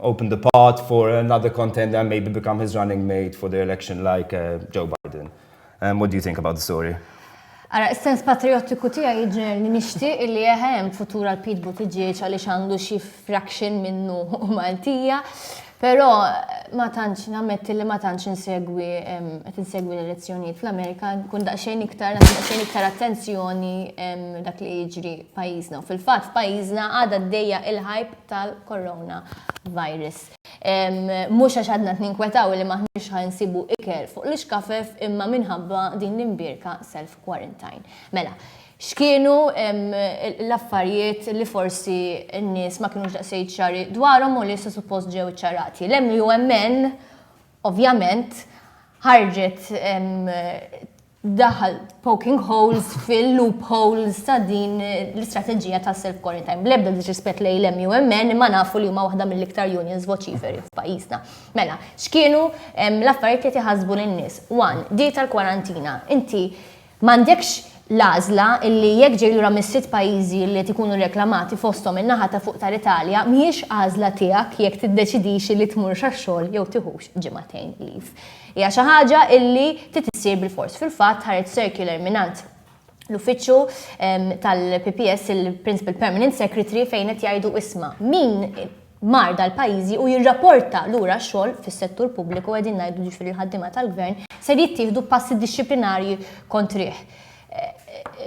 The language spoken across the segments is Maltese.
open the path for another contender and maybe become his running mate for the election like uh, Joe Biden. Um, what do you think about the story? Ara, s-sens patriottiku tija jġen nishti illi jeħem futur għal Pete Buttigieg għaliex għandu xi fraction minnu u Maltija, pero ma tantx nammetti li ma tantx insegwi qed insegwi l-elezzjonijiet fl-Amerika, kun daqsxejn iktar daqsxejn iktar attenzjoni dak li jiġri pajjiżna. Fil-fatt pajjiżna għadha d-dejja il-ħajb tal-coronavirus. Mhux għax għadna qed ninkwetaw li m'aħniex ħa nsibu ikel fuq l-ixkafef imma minħabba din l-imbierka self-quarantine. Mela, x'kienu l-affarijiet li forsi n-nies ma kinux daqsxejn ċari dwarhom u li issa suppost ġew iċċarati? L-MUMN ovvjament ħarġet daħal poking holes fil-loopholes ta' din l-istrateġija ta' self quarantine. Blebda disrispett lej l-MUMN ma nafu li huma waħda mill-iktar unions voċiferi f'pajjiżna. Mela, x'kienu l-affarijiet li tiħasbu lin-nies? One, di tal-kwarantina. Inti m'għandekx l-għażla illi jekk ġej lura mis-sitt pajjiżi li qed ikunu reklamati fosthom in-naħa ta' fuq tal-Italja mhijiex għażla tiegħek jekk tiddeċidix illi tmurx għax-xogħol jew tiħux ġimagħtejn leave. Hija xi ħaġa illi trid issir bilfors. Fil-fatt ħareġ circular mingħand l-uffiċċju tal-PPS il-Principal Permanent Secretary fejn qed jgħidu isma' min mar dal-pajjiżi u jirrapporta lura x-xogħol fis-settur pubbliku qegħdin ngħidu jiġifieri l-ħaddiema tal-Gvern ser jittieħdu passi dixxiplinarji kontrih.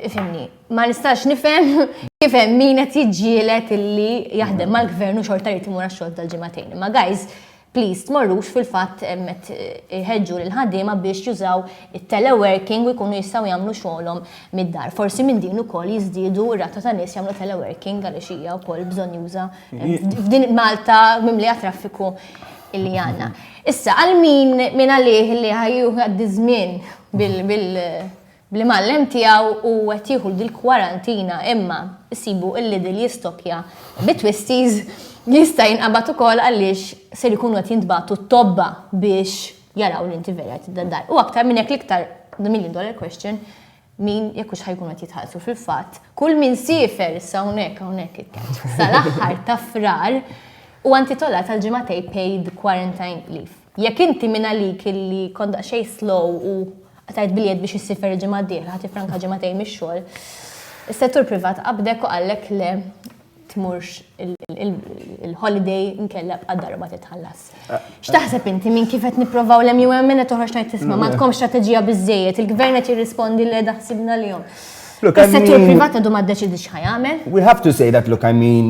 Ifhimni, ma nistax nifhem kif hemm min qed jiġġieled illi jaħdem mal-Gvern u xorta jrid imur għax-xogħol dal-ġimagħtejn. Imma guys, Please tmorrux fil-fatt qed iħeġġu lill-ħaddiema biex jużaw it-teleworking u jkunu jistgħu jagħmlu xogħolhom mid-dar. Forsi minn din ukoll jiżdiedu r-rata ta' nies jagħmlu teleworking għaliex hija wkoll bżonnjuża f'din Malta mimlija traffiku li għandna. Issa għal min minn għalih li ħa jieħu jgħaddi ż-żmien bil Bl-imgħallem tiegħu u qed jieħu dil-kwarantina imma issibu il-Lidl jistokkja bi twisties li jista' jinqabad ukoll għaliex ser ikunu qed jintbagħtu t-tobba biex jaraw li inti vera qed tibda d-dar. U aktar minn hekk l-iktar the million dollar question min jekk hux ħajkunu qed jitħallsu fil-fatt kull min siefer issa hawnhekk hawnhekk it-tent sal-aħħar ta' Frar huwa intitolat għal ġimgħatej paid quarantine leave. Jekk inti minn għalik illi kont daqsxejn slow u qatajt biljett biex issir ferri ġimgħa d-dieħla ħa tiffranka ġimagħtejn mix-xogħol, is-settur privat qabdek u qallek le tmurx il-holiday inkella bqa' darba titħallas. X'taħseb inti minn kif qed nipprovaw l-MUM qed toħroġ tgħid tisma' m'għandkom strateġija biżejjed, il-gvern qed jirrispondi le daħsibna lihom. Is-settur privat għadu ma ddeċidiex x'ħa jagħmel. We have to say that look I mean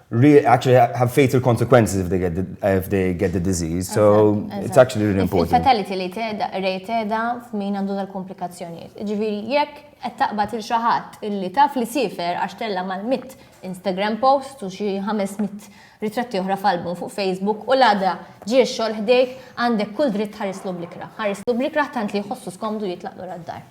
Really, actually, have fatal consequences if they get the, if they get the disease. So it's actually really important. Il-fatality li teda, rate teda f'min għandu dal-komplikazzjonijiet. Ġifiri, jekk qed taqbad il xaħat illi taf li sifer għax tella mal-mit Instagram post u xi 500 ritratti oħra f'album fuq Facebook u l-għada ġie xogħol ħdejk għandek kull dritt ħarislu blikra. Ħarislu blikra tant li jħossu skomdu jitlaqlu għad-dar.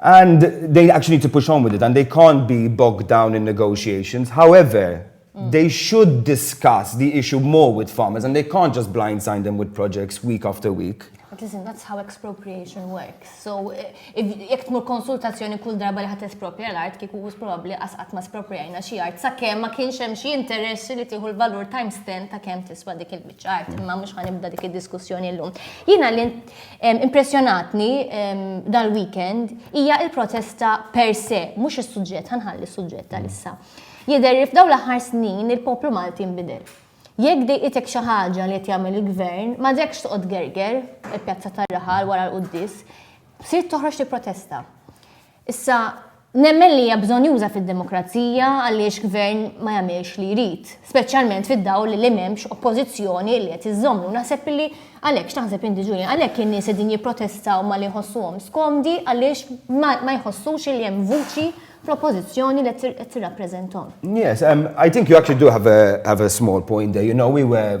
And they actually need to push on with it and they can't be bogged down in negotiations. However, mm. they should discuss the issue more with farmers and they can't just blindside them with projects week after week. But listen, that's how expropriation works. So, eh, if jek tmur konsultazzjoni kull darba li ħat espropria l-art, kiku għus probabli għasqat ma espropriajna xie art, sa' kem ma kienx hemm xie interess li tiħu l-valur time stand ta' kem tiswa dik il-bicċa art, ma mux ħanibda dik il-diskussjoni l-lum. Jina li Impressjonatni dal-weekend hija il-protesta per se, mhux is-suġġett, ħanħalli s-suġġett tal-issa. Jidher li f'daw l-aħħar snin il-poplu Malti nbidel. Jekk dejqitek xi ħaġa li qed jagħmel il-gvern, ma dekx toqgħod gerger, il-pjazza tar-raħal wara l-quddies, sirt toħroġ tipprotesta. Issa, nemmen li hija bżonjuża fid-demokrazija għaliex gvern ma jagħmilx li jrid, speċjalment fid-dawl li m'hemmx oppożizzjoni li qed iżżommu. Naħseb li għalhekk, x'taħseb inti Julian, għalhekk in-nies qegħdin jipprotestaw malli jħossuhom skomdi għaliex ma jħossux li hemm vuċi fl-oppożizzjoni li qed tirrappreżenthom. Yes, I think you actually do have a small point there, you know, we were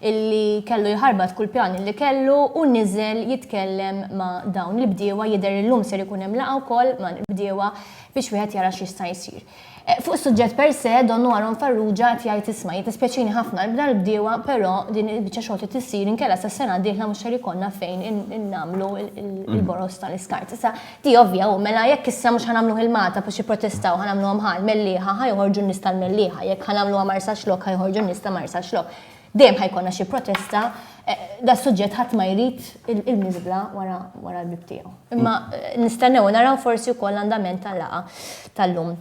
illi kellu jħarbat kull pjan illi kellu u niżel jitkellem ma' dawn il-bdiewa, jidher li llum ser ikun hemm laqgħa wkoll ma' l-bdiewa biex wieħed jara x'jista' jsir. Fuq is-suġġett per se, Donnu Aaron Farrugia qed jgħid isma' jiddispjaċini ħafna li dal-bdiewa però din il-biċċa xogħol trid issir inkella sas-sena d-dieħla mhux ser ikollna fejn nagħmlu l-boroż ta' l-iskart. Issa di ovvja, hu mela jekk issa mhux ħa nagħmluh il-Malta biex jipprotestaw ħa nagħmluha mħa l-Mellieħa ħa joħorġu n-nies tal-Mellieħa, jekk ħa nagħmluha Marsaxlokk ħa joħorġu n-nies ta' Marsaxlokk. Dejjem ħa jkollna xi protesta, eh, da suġġett ħadd ma jrid il-miżbla wara l-bib tiegħu. Imma eh, nistennew naraw forsi wkoll l-andament tal-laqa tal-lum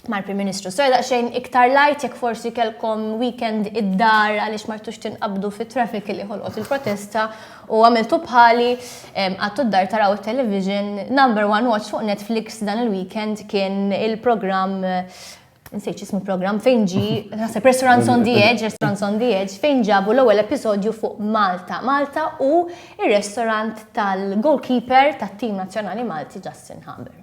mal-Prim Ministru. So xejn iktar lajt jekk forsi kelkom weekend id-dar għaliex martux tinqabdu fit traffic li ħolqot il-protesta u għamiltu bħali għattu d-dar taraw il-television number one watch fuq Netflix dan il-weekend kien il-programm nsejt xismu program fejn ġi, nasib Restaurants on the Edge, Restaurants on the Edge, fejn ġabu l-ewwel episodju fuq Malta. Malta u il-restaurant tal-goalkeeper tat-tim nazzjonali Malti Justin Haber.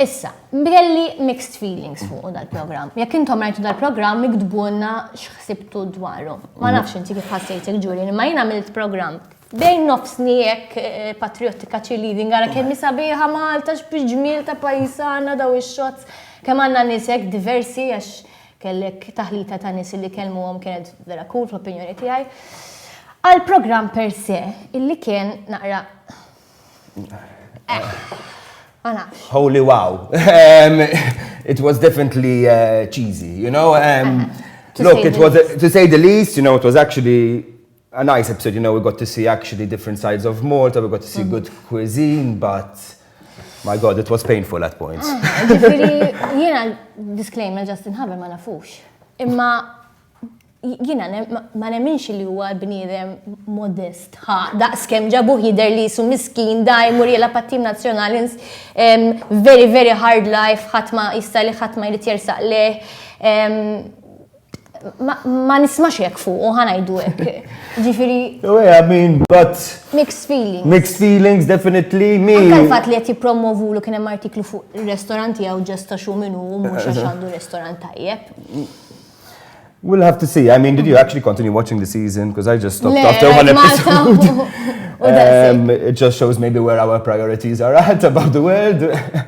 Issa, belli mixed feelings fuq dal-program. Jekk intom rajtu dal-program, miktbunna xħsibtu dwaru. Ma nafx inti kif ħassejt il-ġuri, ma jina għamilt program Bejn nofsni hekk patriottika cheerleading ara kemm sabiħa Malta x'biġmiel ta' pajjiż għandna daw ix-shots. Kemm għandna nies hekk diversi għax kellek taħlita ta' nies li kellmuhom kienet vera cool fl-opinjoni tiegħi. Għall-programm per se illi kien naqra ma nafx. Holy wow. It was definitely uh, cheesy, you know. Um, look, it was, to say the least, you know, it was actually A nice episode, you know, we got to see actually different sides of Malta, we got to see good cuisine, but my god, it was painful at points. Ah, ġifiri, jena, disclaimer, Justin Haber ma nafux. Imma jina ma nemminx li huwa bniedem modest ha daqs kemm ġabuh jidher li su miskin daj mur jela pattim nazzjonali very very hard life ħadd ma jista' li ħadd ma jrid jersaq leh Ma nismax jek fuq, u ħanajdu jek. Ġifiri. I mean, but. Mixed feelings. Mixed feelings, definitely. Me. Anka l-fat li jett jipromovu l kienem artiklu fuq restoranti għaw ġesta xu minu u mux għaxandu restorant tajjeb. We'll have to see. I mean, did you actually continue watching the season? Because I just stopped after one episode. Um, it just shows maybe where our priorities are at about the world.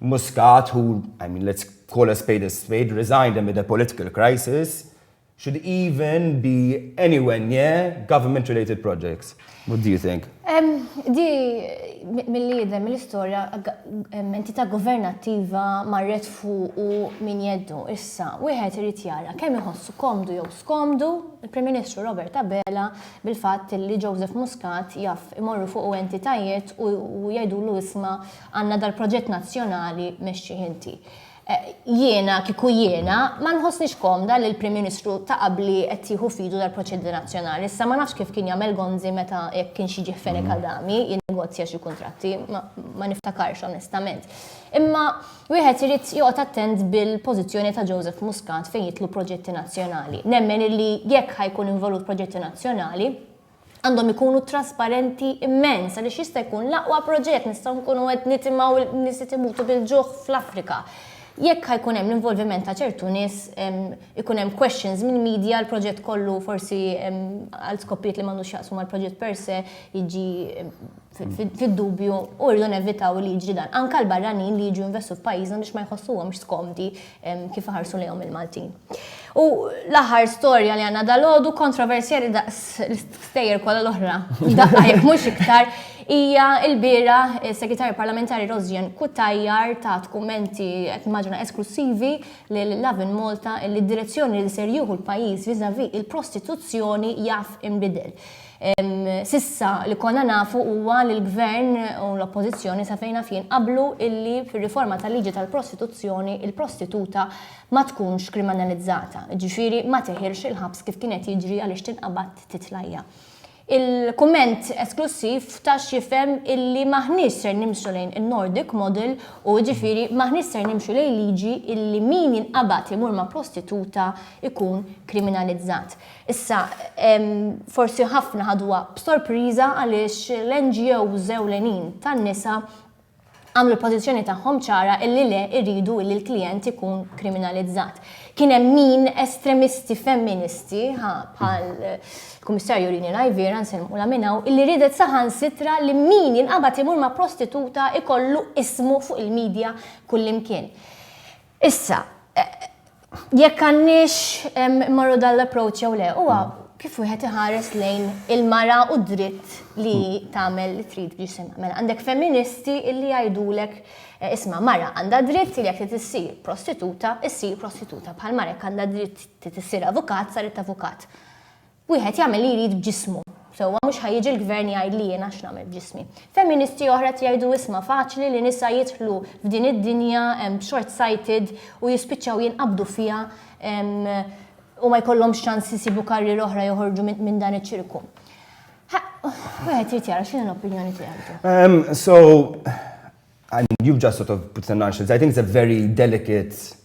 Muscat, who, I mean let's call a spade a spade, resigned amid a political crisis, should even be anywhere near government related projects. What do you think? Di mill-li jidem l-istoria entità governattiva marret fuq u min jeddu issa wieħed irid jara kemm iħossu komdu jew skomdu il-Prim Ministru Robert Abela bil-fatt li Joseph Muscat jaf imorru fuq entitajiet u jgħidulu isma' Għandna dal-proġett nazzjonali mexxih inti. Jiena, kieku jiena, ma nħossnix komda li l-Prim Ministru ta' qabli qed jieħu f'idu dal-proġett nazzjonali. Issa ma nafx kif kien jagħmel Gonzi meta jekk kienx jiġi f'Fenech Adami jinnegozja xi kuntratti, ma niftakarx onestament. Imma wieħed irid joqgħod attent bil-pożizzjoni ta' Joseph Muscat fejn jidħlu proġetti nazzjonali. Nemmen illi jekk ħa jkun involut proġetti nazzjonali, għandhom ikunu trasparenti immens għaliex jista' jkun l-aqwa proġett nistgħu nkunu qed nitimgħu n-nies qed imutu bil-ġuħ fl-Afrika. Jekk ħajkun hemm l-involviment ta' ċertu nies ikun hemm questions mill-media l-proġett kollu forsi għal skopijiet li m'għandux x'jaqsmu mal-proġett per se jiġi fid-dubju u rridu nevitaw li jiġri dan. Anka l-barranin li jiġu investu f'pajjiżna biex ma jħossuhomx skomdi kif iħarsu lejhom il-Maltin. U l-aħħar storja li għandna dal-għodu kontroversjali daqs l-istejjer kollha l-oħra. Daqqa jekk mhux iktar hija l-bira segretarju parlamentari Rosjan Kutajjar ta' tkumenti qed maġna esklusivi li l-Lavin Malta li d-direzzjoni li ser jieħu l-pajjiż viżavi il-prostituzzjoni jaf inbidel. S'issa li konna nafu huwa li l-Gvern u l-Oppożizzjoni sa fejn naf jien qablu illi fir-riforma tal-liġi tal-prostituzzjoni il-prostituta ma tkunx krimanalizzata, jiġifieri ma tiħilx il-ħabs kif kien qed jiġri għaliex tinqabad titla' hija. Il-kumment esklussiv ta x'jifhem illi m'aħniex ser nimxu lejn in-Nordic model u jiġifieri m'aħniex ser nimxu lejn liġi illi min jinqabad imur ma' prostituta jkun kriminalizzat. Issa, forsi ħafna ħaduha b'sorpriża għaliex l-NGOs ewlenin tan-nisa għamlu l-pożizzjoni tagħhom ċara illi le jridu illi l-klijent ikun kriminalizzat. Kien hemm min estremisti femministi bħal Kummissarju Rini Najvira nsellmu la minnaw illi ridet saħansitra li min jinqabad imur ma' prostituta ikollu ismu fuq il-media kullimkien. Issa, jekk għandniex immorru dan l-approach jew le, huwa kif wieħed iħares lejn il-mara u dritt li tagħmel li trid b'ġisimha. Mela għandek feministi illi jgħidulek eh, isma' mara għandha dritt li jekk tissir prostituta, issir prostituta bħal mara jekk għandha dritt tissir avukat, saret avukat. Wieħed jagħmel li jrid b'ġismu. Sewwa mhux ħa jiġi l-Gvern jgħidli jiena x'nagħmel b'ġismi. Feministi oħra qed jgħidu isma' faċli li nisa jidħlu f'din id-dinja short sighted u jispiċċaw jinqabdu fiha u ma jkollhomx ċans isibu karriera oħra joħorġu minn dan iċ-ċirku. Wieħed irid jara x'inhi l-opinjoni tiegħek. So, I mean, you just sort of put some nonsense. I think it's a very delicate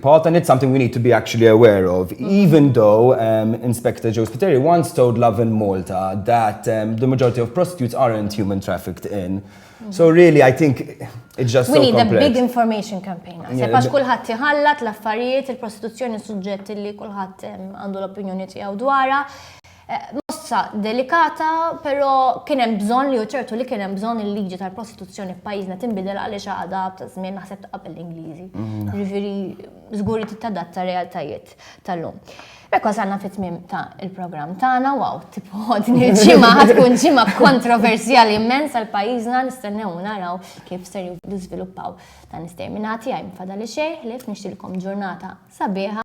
Paul, then it's something we need to be actually aware of, even though um, Inspector Joe Spiteri once told Love in Malta that um, the majority of prostitutes aren't human trafficked in. So really, I think it's just We so need complex. a big information campaign. Se pax kullħat jħallat l-affarijiet, il-prostituzzjoni suġġetti li kullħat għandu l-opinjoni tiegħu dwarha. Mossa delikata, pero kien hemm bżonn li hu ċertu li kien hemm bżonn il-liġi tal-prostituzzjoni f'pajjiżna tinbidel għaliex għadha ta' żmien naħseb ta' qabel l-Ingliżi. Jiġifieri żgur li tittadatta realtajiet tal-lum. Hekk wasalna fit-tmiem ta' il-programm tagħna, wow, tipu din il-ġimgħa ħad tkun ġimgħa kontroversjali immens għal pajjiżna nistennew u naraw kif ser jiżviluppaw dan is-terminati għaj mfadali xejn ħlief nixtilkom ġurnata sabiħa.